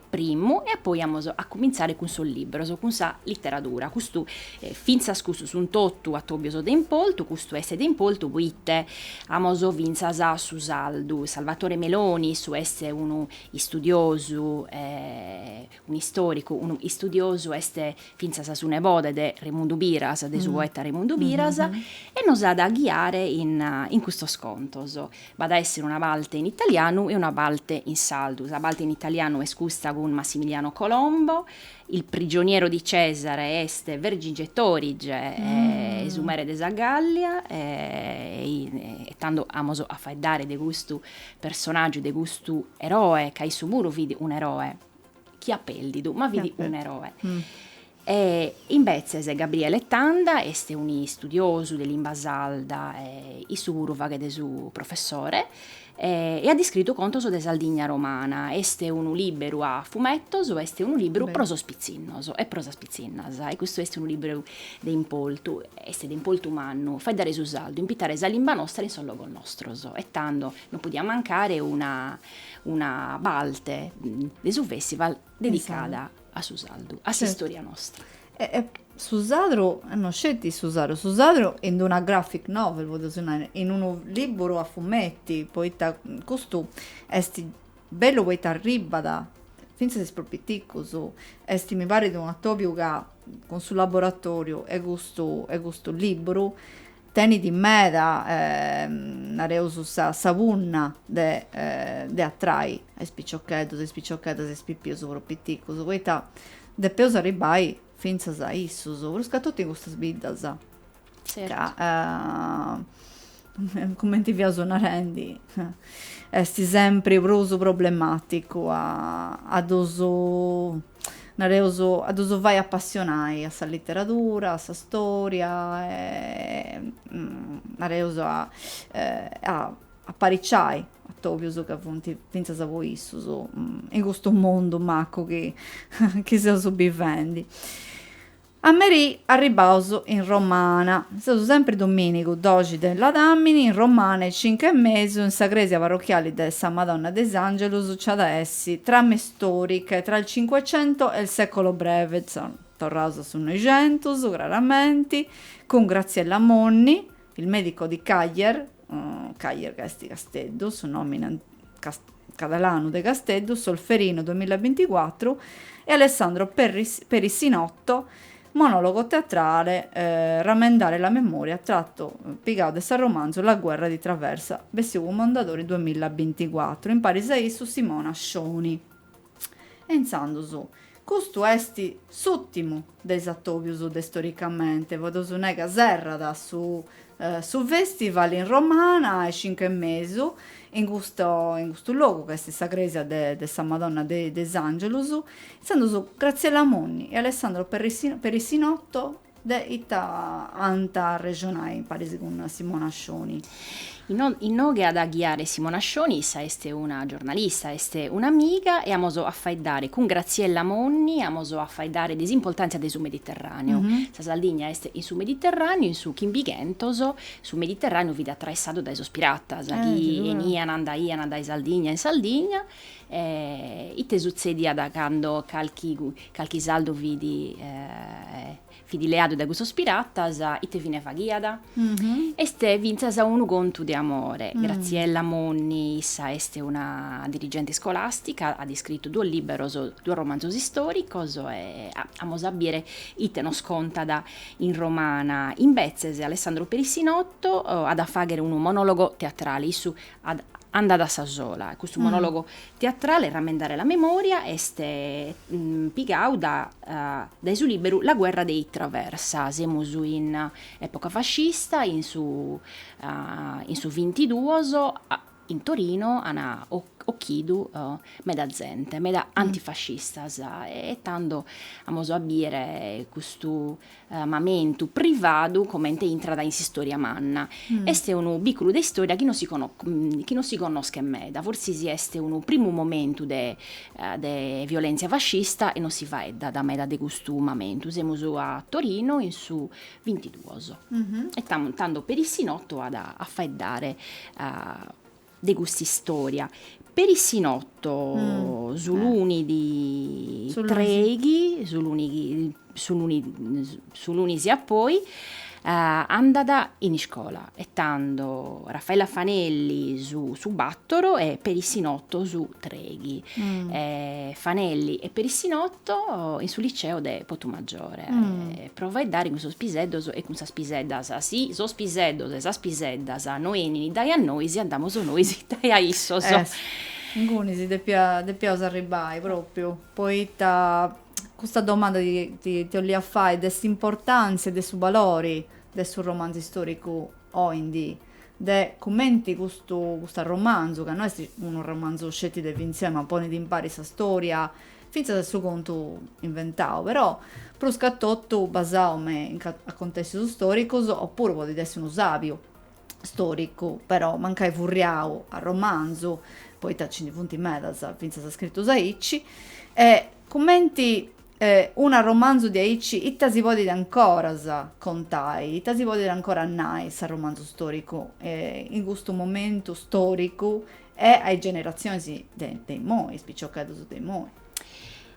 primmu e poi amos a cumintzare cun sos libros, cun sa literadura, custu E fintzas custu sun totu atobios de importu, custu est de importu poite amos fintzas su sardu Salvatore Meloni, issu est unu istudiosu, un'istoricu, unu istudiosu est fintzas su nebode de Remundu Piras, de su poeta Remundu Piras, e nos at a ghiare in in custos contos. B'at a essere una parte in italianu e una parte in sardu. Sa parte in italianu est custa cun Massimiliano Colombo, Il prigioniero di Cesare est Vercingetorige, e su mere de sa Gallia, e tando amos a faeddare de custu personàgiu, de custu eroe, ca issu puru fit un'eroe, chi at pèrdidu, ma fit un'eroe. E imbetzes Gabriele Tanda est un'istudiosu de limba sarda e issu puru faghet su professore, E at iscritu contos de Sardigna romana. Est unu lìberu a fumetos, est unu lìberu pro sos pitzinnos e pro sas pitzinnas. E custu est unu lìberu de importu, est de importu mannu, faeddare su sardu, impitare sa limba nostra in sos logos nostros. E tando non podiat mancare una una parte de su festival. Dedicada a su sardu, a s'istòria nostra. E, e su sardu, non sceti su sardu, su sardu in una graphic novel, podeus nai, in unu lìburu a fumeti, poita custu est bellu poita arribat fintzas a is prus piticus, est mi parit un'atòbiu ca cun su laboratòriu 'e custu 'e custu lìburu Tenit meda, nareus, sa punna de de atrai a is piciocheddus e is piciocheddas e is pipius prus piticus, poita depeus arribbai fintzas a issus, pruscatotu in custas biddas ca, cumenti fiaus narendi, esti sempri prus problematicu a ddus nareus, a ddus fai apassionai a sa literadura, a sa stòria e, nareus, a a apariciai atobius ca funt fintzas po issus in custu mundu macu chi chi seus bivendi. A merì arribbaus in Romana. Seus sempri domìnigu doxi de Ladàmini in Romana e cincu e mesu in sa crèsia parrochiali de sa Madonna de is Àngelus nci at a essi Trame storiche tra il Cinquecento e il Secolo Breve, torraus a su Noixentus, craramenti, cun Graziella Monni, Il medico di Càller, Càller ca est Casteddu, su nòmine catalanu de Casteddu, Solferino duamilla e binticuatru, e Alessandro Perissinotto, monòlogo teatrale, Rammendare la memoria, trattu, pigau de s'arromanzu La guerra dei Traversa, bessiu cun Mondadori duamilla e binticuatru, imparis a issu Simona Scioni. E intzandus, custu est s'ùrtimu de is atòbius de Storicamente, po dd'os nai ca serrat su su festival in Romana a is cincu e mesu, in custu in custu logu ca est sa crèsia de de sa Madonna de is Angelus. Intzandus Graziella Monni e Alessandro Perissi Perissinotto De ita ant a arrexonai imparis cun Simona Scioni? Inoghe at a ghiare Simona Scioni, issa est una giornalista, est un'amiga e amus a faeddare cun Graziella Monni, amus a faeddare de s'importàntzia de su Mediterràneu. Sa Sardigna est in su Mediterràneu, in su chimbighentos su Mediterràneu fit atraessadu dae sos piratas chi 'enian, andaian dae Sardigna in Sardigna E ite sutzediat cando calchi calchi sardu fit fit leadu dae cussos piratas, ite fine faghiat? Est fintzas unu contu de amore. Graziella Monni, issa est una dirigente scolàstica, at iscritu duos lìberos, duos romanzos istòricos e amus a bìdere ite nos contat in Romana. Imbetzes Alessandro Perissinotto at a fàghere unu monòlogo teatrale, issu at andat a sa sola e custu monologu teatrale Rammendare la memoria est pigadu dae su liberu La guerra dei Traversa, semus in epoca fascista in su in su vintiduos in Torino an occhidu meda zente meda antifascistas e tando amus a biere custu mamentu privadu comente intrat in s'istoria manna, est unu biculu de istoria chi non si chi non si connoschet meda, forsis est unu primu momentu de de violentzia fascista e non si faeddat meda de custu mamentu, semus a Torino in su bintiduos e tando Perissinotto at a faeddare de custa istoria. Perissinotto su lunis treighi, su luni chi su luni su lunis a poi andat in iscola e tando Raffaella Fanelli su su batoro e Perissinotto su treighi. Fanelli e Perissinotto in su liceo de Putumajore. Pro faeddare cun sos piseddos e cun sas piseddas. Si sos piseddos e sas piseddas no 'enin dae a nois, andamus nois dae a issos. Eh si, inguni si depia, depiaus arribbai, propriu, poita custa domanda ti ti 'ollia fai de s'importantzia e de su balori de su romanzu istoricu oindi, de cumenti custu custu romanzu, ca no est unu romanzu sceti de finzioni, ma ponit impari sa storia Fintzas su contu inventau, però prus ca totu basau in acontèssius stòricus, opuru podit essi unu sàgiu stòricu, però mancai furriau a romanzu, poita nci ndi funt medas fintzas scritus aici, e cumenti una romanzu diaici ita si podit ancoras contai, ita si podit ancoras nai s'arromanzu stòricu in custu momentu stòricu E a is generatzionis de imoi, is piciocheddus de imoi.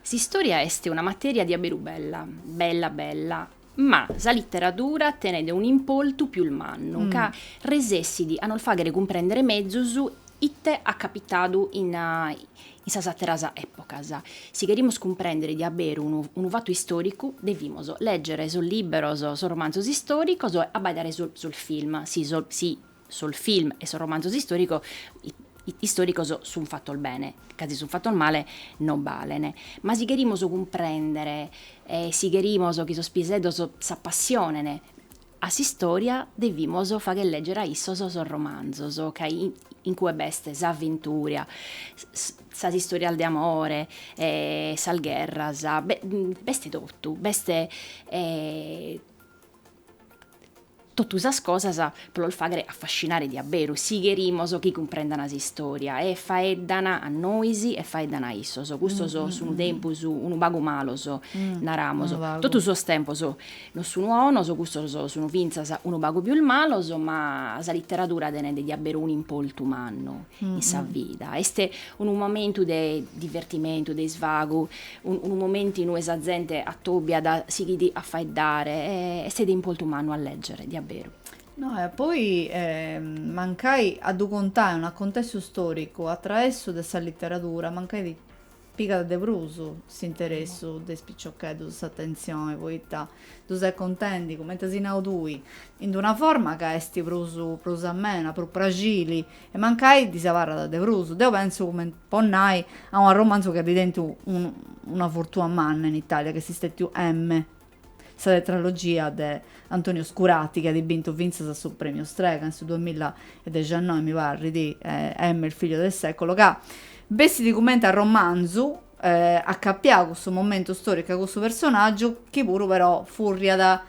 S'istòria est una matèria diaberu bella, bella bella, ma sa literadura tenet un'importu pius mannu, ca resessit a nos fàghere cumprèndere mezus ite at capitadu in in sas àteras èpogas. Si cherimus cumprèndere diaberu unu unu fatu istòricu, devimus lègere sos lìberos, sos romanzos istòricos e abbaidare sos sos film, si sos Sos film e sos romanzos istòricos sun fatos bene, ca si sun fatos male non balen. Ma si cherimus cumprèndere e si cherimus chi sos piseddos s'apassionen a s'istòria, devimus fagher lègere a issos sos romanzos, ca in cue b'est s'avventura, sas istòrias de amore, sas gherras, b'est totu, b'est Totu sas cosas pro los fàghere affascinare diabberu, si cherimos chi cumprendana s'istoria, e faeddana a nois e faeddana a issos, custos sunu tempos unu pagu malos, naramos, totu sos tempos non sunu bonos, custos sunu fintzas unu pagu pius malos, ma sa literadura tenet diabberu un'importu mannu in sa vida, est unu momentu de divertimentu, de isvagu, Unu momentu inue sa zente atòbiat si setzit a faeddare e est de importu mannu a lègere, diaberu. No e poi mancai a ddu contai un'acontessu stòricu a traessu de sa literadura, mancai ddis pigat de prus s'interessu de is piciocheddus s'atentzioni, poita ddu ses contendi, cumenti as nau tui, in una forma ca est prus prus amena, prus praxili e mancai ddis abarrat de prus. Deu pentzu cumenti po nai, a un arromanzu chi at tentu una fortua manna in Itàlia, chi est stètiu M. Sa tetralogia de Antonio Scurati, chi at bintu fintzas su Premiu Strega in su duamilla e dexannoi, mi parrit, M. il figlio del secolo, ca bessit cumenti arromanzu, acapiau a cussu momentu storicu a cussu personàgiu, chi puru però furriat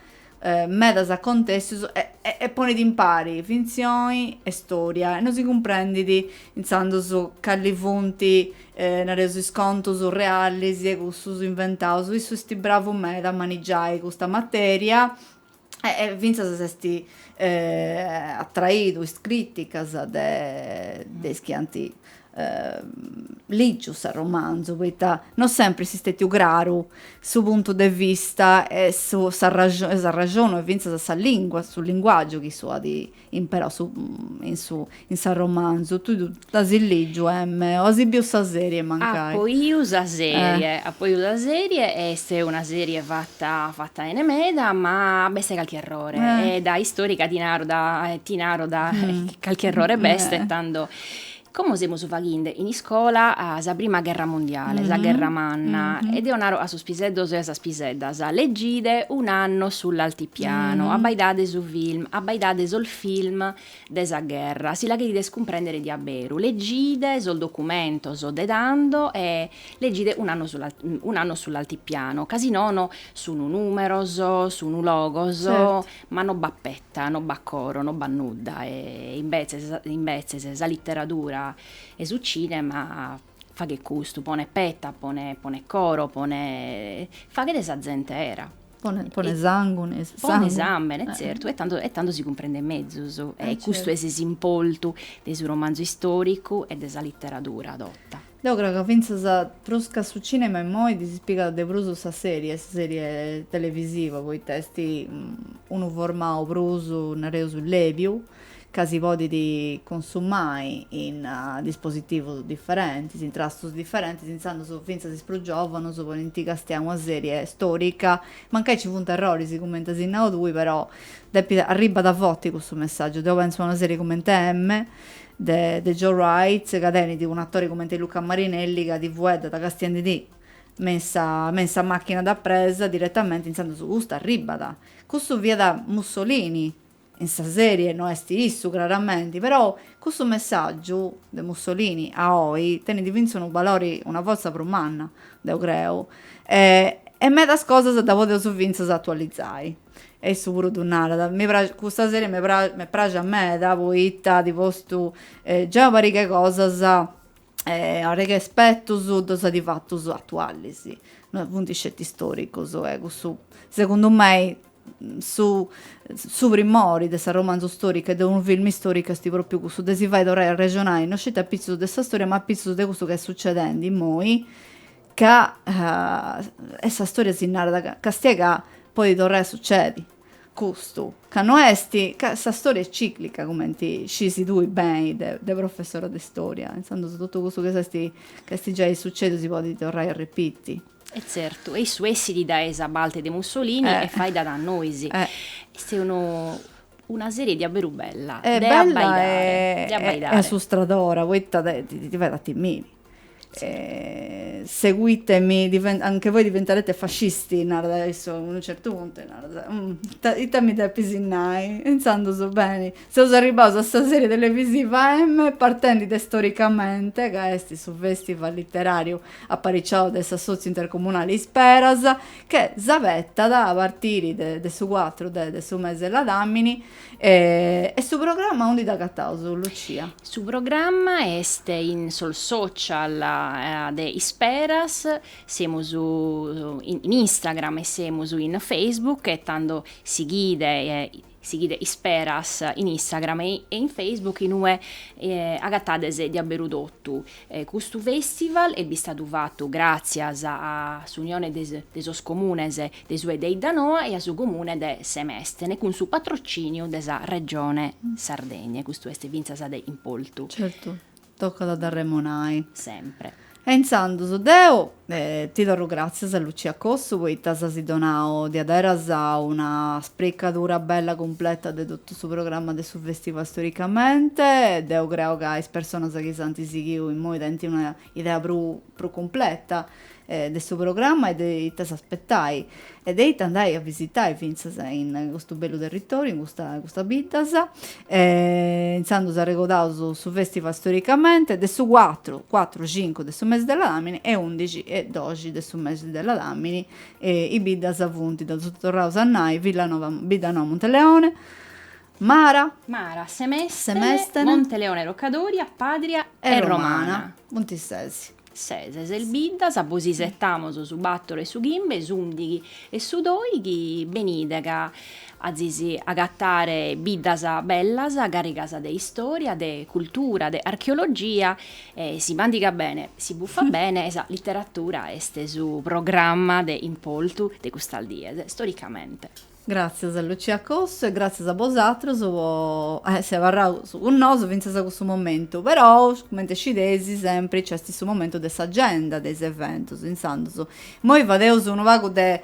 medas acontessus e ponit impari fintzioni e storia e non si cumprendit intzandus cali funt, nareus, is contus realis e cussus inventaus, issu est bravu meda a manigiai custa materia e fintzas s'est atraidu is crìticas de is chi ant lìgiu s'arromanzu poita no sempri est stètiu craru su puntu de vista e s'arraxonu e fintzas sa lìngua, su linguàgiu chi issu at imperau su in su in s'arromanzu. Tui dd'as lìgiu emme o as biu sa sèrie mancai? Apo 'iu sa sèrie, apo 'iu sa sèrie e est una sèrie fata fata bene meda ma b'est calchi errore e da istorica ti naro da ti naro calchi errore b'est tando Como semus faghende in iscola sa prima gherra mundiale, sa gherra manna, e deo naro a sos piseddos e a sas piseddas, leggide un'anno sull'altipiano, abbaidade su film, abbaidade sos film de sa gherra, si la cherides cumprendere de abberu, leggide sos documentos de tando e leggide un'anno un'anno sull'altipiano, ca si nono sun numeros, sun logos, ma no b'at peta Ita, no b'at coro, no b'at nudda, e imbetzes imbetzes sa literadura e su cinema faghet custu, ponet peta, ponet ponet coro, ponet faghet sa zente era. Ponet ponet sangu, ponet sàmbene, e tzertu, e tando e tando si cumprendent mezus, e custu est s'importu de su romanzu istoricu e de sa literadura tota. Deu creu ca fintzas prus ca su cinema immoi si pigat de prus sa serie, sa serie televisiva, poita est unu formau prus, nareus, lèbiu, ca si podit consumai in dispositivus diferentis, in trastus diferentis, intzandus fintzas is prus giòvanus podint castiai una serie storica, mancai ci funt erroris cumenti as nau tui, però ddis arribat forti cussu messàgiu, deu pentzu a una serie cumenti M, de de Joe Wright ca tenit un atore cumenti Luca Marinelli ca ti fueddat castiendi·ti me in sa me in sa macchina da presa direttamenti intzandus custu arribbat cussu fiat Mussolini in sa serie no est issu craramenti però cussu messaggiu de Mussolini a oi tenit finzas unu balori una forza prus manna deu creu e e medas cosas ddas podeus finzas atualizai. E issu puru ddu narat, mi praxit, custa serie m'est pràxia meda poita at postu giai una pariga 'e cosas, una pariga 'e aspetus ddus at fatus atualis, no funt sceti istoricus e cussu segundu mei su su primori de s'arromanzu storicu e de unu filmu istoricu est propriu cussu de si fai torrai a arrexonai no sceti apitzus de sa storia ma apitzus de cussu chi est sucedendi immoi Ca est sa storia si narat ca càstia ca podit torrai a sucedi custu ca no est ca sa storia est ciclica cumenti scisi tui beni de de professora de storia intzandus totu cussu chi s'est ca est giai sucediu si podit torrai a repiti. E tzertu e issu essit dae sa parte de Mussolini e faeddat a nois. Est unu una serie diaberu bella de abbaidare de abbaidare. E assustradora poita ti ti fait a timiri. Seguitemi, anche voi diventerete fascisti, narat issu, a unu certu puntu, narat, ita, ita mi depis nai? E intzandus, beni, seus arribbaus a sa serie televisiva M, partendi de Storicamente, ca est su festival literariu apariciau de s'Assotziu Intercomunali Isperas, che s'abetat a partiri de su cuatru de su mesi 'e ladamini, E su programma aundi dd'agataus Lucia? Su programma est in sos social de Isperas, semus in Instagram e semus in Facebook e tando sighide sighide Isperas in Instagram e in Facebook in ue agatades diaberu totu Custu fèstival est bistadu fatu gràtzias a s'unione de sos comunes de su 'e de 'Iddanoa e a su comune de Semestene cun su patrocìniu de sa Regione Sardegna e custu est fintzas de importu. Certu, tocat a dd'arremonai. Sempre. E intzandus deo Ti torru gràtzias Lucia Cossu poita s'as donau diaderus una spricadura bella cumpleta de totu su programma de su festival Storicamente. Deu creu ca is personas chi s'anti sighiu immoi tenint una idea prus prus cumpleta de su programma e de ita s'aspetai. e de ita andai a visitai fintzas in custu bellu territòriu, in custa custas biddas. Intzandus arregodaus su fèstival storicamente, de su cuatru, cuatru, cincu de su mesi de Ladàmini e undixi e doxi de su mesi de Ladàmini, is biddas funt, ddas torraus a nai, Villanova, Bidda Noa Monteleone, Mara, Mara, Semèstene, Semèstene, Monteleone Rocca Doria, Pàdria e Romana. Funt ses. Ses, ses biddas, bos isetamos su bàtoro e su chimbe, s'ùndighi e su dòighi, benide ca azis agatare biddas bellas, càrrigas de istòria, de cultura, de archeologia e, si mandigat bene, si bufat bene, sa literatura est su programma de importu de custas dies, storicamente. Gràtzias a Lucia Cossu e gràtzias a bosàtros po essi abarraus cun nosu fintzas a custu momentu. Però, cumenti sciteis, sempri nci est su momentu de s'agenda de is eventus, intzandus imoi fadeus unu pagu de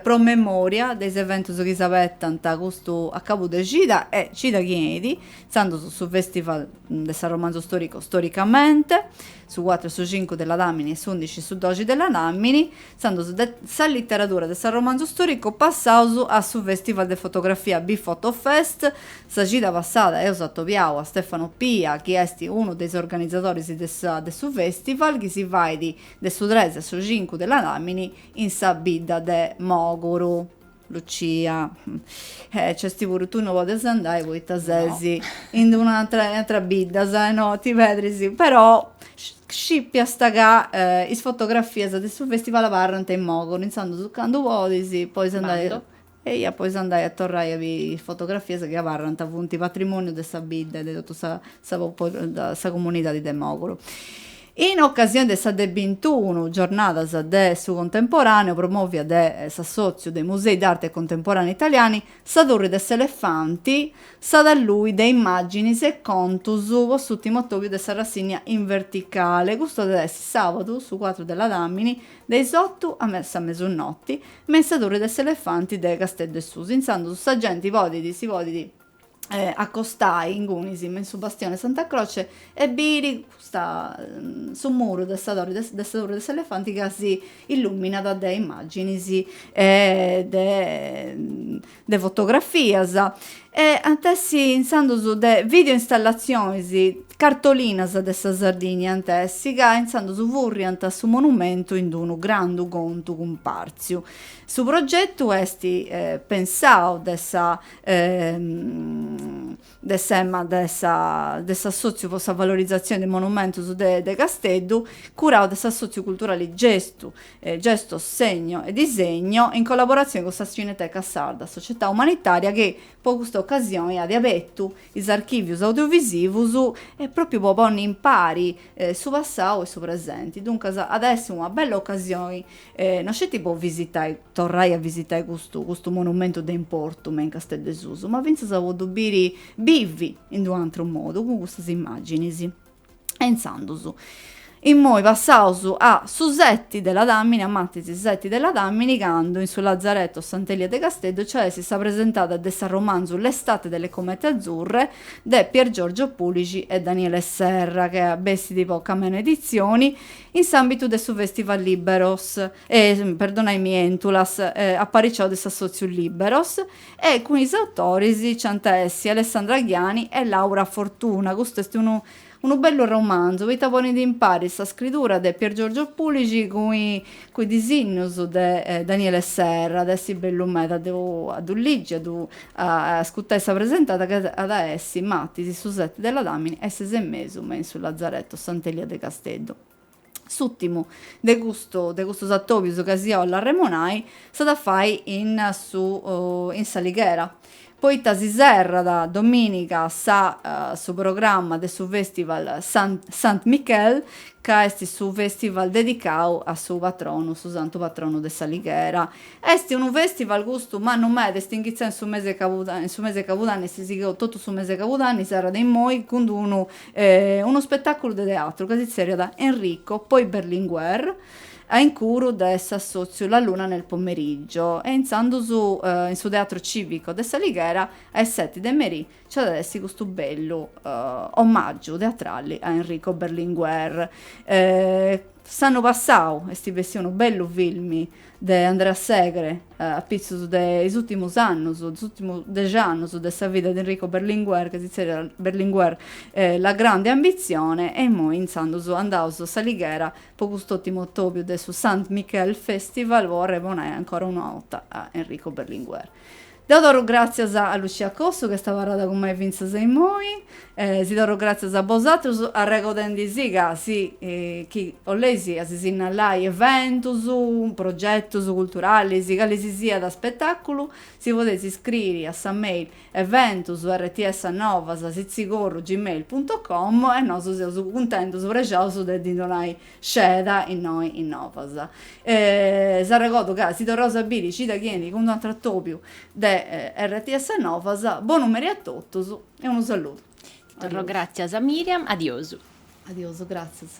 promemòria de is eventus chi si abetant custu acabu de cida e cida chi 'enit, intzandus su Festival de s'arromanzu storicu Storicamente, su cuatru e su cincu de Ladàmini e s'undixi e su doxi de Ladàmini, Intzandus de sa literadura de s'arromanzu stòricu passaus a su fèstival de fotografia Bfotofest. Sa cida passada eus atobiau a Stefano Pia chi est unu de is organizadoris de sa de su fèstival chi si fait de su tres a su cincu de Ladàmini in sa bidda de Mòguru. Lucia, E nc'est puru, tui no podes andai poita ses in d' una atra, in atras biddas e no ti pedris, però scipiast ca is fotografias de su festival abarrant in Mòguru, intzandus candu podis, podis andai, eia, podis andai a torrai a biri is fotografias chi abarrant, funt patrimoniu de sa bidda e de totu sa sa comunidadi de Mòguru. In ocasione de sa de bintunu Giornadas de su Contemporaneu promòvia de s'Assòtziu dei Musei d'Arte Contemporànea Italiani, sa Turri de s'Elefanti s'at a lui de immàginis e contus po s'ùtimu atòbiu de sa rassìnnia in verticale. Custu at a essi sàbadu, su cuatru de ladàmini, de is otu a sa mesunoti, me in sa Turri de s'Elefanti de Casteddu 'e Susu, intzandus sa genti podit, si podit, accostai ingunis me in su bastione 'e Santa Croce e biri custa su muru de sa torre de sa torre de s'elefanti ca si illuminat de immaginis e de de fotografias e ant essi intzandus de video installazionis cartolinas de sa Sardigna ant essi ca intzandus furriant su monumentu in d'unu grandu contu cumpartziu. Su progetu esti pensau de sa e de s'EMMA de s'Assòtziu po sa valorizatzione de monumentus de Casteddu, curau de s'Assòtziu Culturali Gestu, Gesto, Segno e Disegno, in collaboratzione cun sa Cineteca Sarda, società umanitària chi po custa ocasione at abertu is archìvius audiovisivus e pròpiu po ponni in pari su passau e su presenti. Duncas at a essi una bella ocasioni no sceti po visitai torrai a visitai custu custu monumentu de importu me in Casteddu 'e Susu, ma fintzas po ddu biri bivi in d'un'atru modu, cun custas immàginis. E intzandus, immoi passaus a su seti de Ladàmini, a martis su seti de Ladàmini, candu in su Lazaretu a Sant'Elia de Casteddu nci at a essi sa presentada de s'arromanzu L'estate delle comete azzurre de Piergiorgio Pulixi e Daniele Serra, ca bessit po Camena Editzioni, in s'àmbitu de su Festival Liberos. e, perdonai mi, Entulas, apariciau de s'Assòtziu Lìberos, e cun is autoris nci ant a essi Alessandra Ghiani e Laura Fortuna. Custu est unu unu bellu romanzu poita ponit impari sa scridura de Piergiorgio Pulixi cun cun is disinnus de Daniele Serra, at a essi bellu meda de a ddu ligi, a ddu ascutai sa presentada ca at a essi, Matis, su set de Ladàmini a is ses e mesu me in su Lazaretto Sant'Elia de Casteddu. S'ùtimu de custu de custos atòbios ca si 'ollu arremonai s'at a fai in su in s'Alighera, poita si serrat domìniga sa su programma de su fèstival San Sant Michel, ca est su fèstival dedicau a su patronu su santu patronu de s'Alighera. Est unu fèstival custu mannu meda, est inghitzau in su mese 'e in su mese 'e cabudanni, est sigheu totu su mese 'e cabudanni, serrat immoi cun d-unu unu spetàculu de teatru ca si tzerriat Enrico, poi Berlinguer, a incuru de s'assòtziu La luna nel pomeriggio e intzandus in su Teatru Cìvico de s'Alighera a is seti de merì nci at a essi custu bellu omàgiu teatrali a Enrico Berlinguer. S'annu passau est bessiu unu bellu filmi de Andrea Segre a pitzus de is ùrtimus annus, is ùrtimus dexi annus de sa vida de Enrico Berlinguer, ca si zerriat Berlinguer, La grande ambizione, e immoi intzandus andaus a s'Alighera po cust'ùtimu atòbiu de su Sant Michel Festival po arremonai ancora una 'orta a Enrico Berlinguer. Deu torru gràtzias a Lucia Cossu ch'est abarrada cun mei fintzas a immoi e si torru gràtzias a bosatrus arregodendi si ca chi si 'olleis sinnalai eventus, progetus culturalis, cali si siat aspetàculu, si podeis iscriri a sa mail eventus rts novas sitzigorru gmail punto com e nosu seus cuntentus, prexaus de ddi donai Sceda innoi in Novas. S'arregodu ca si torraus a biri cida chi enit cun un'atru atobiu de RTS Novas, bonu meri a totus e unu saludu. Torro gràtzias a Miriam, adiosu. Adiosu, gràtzias.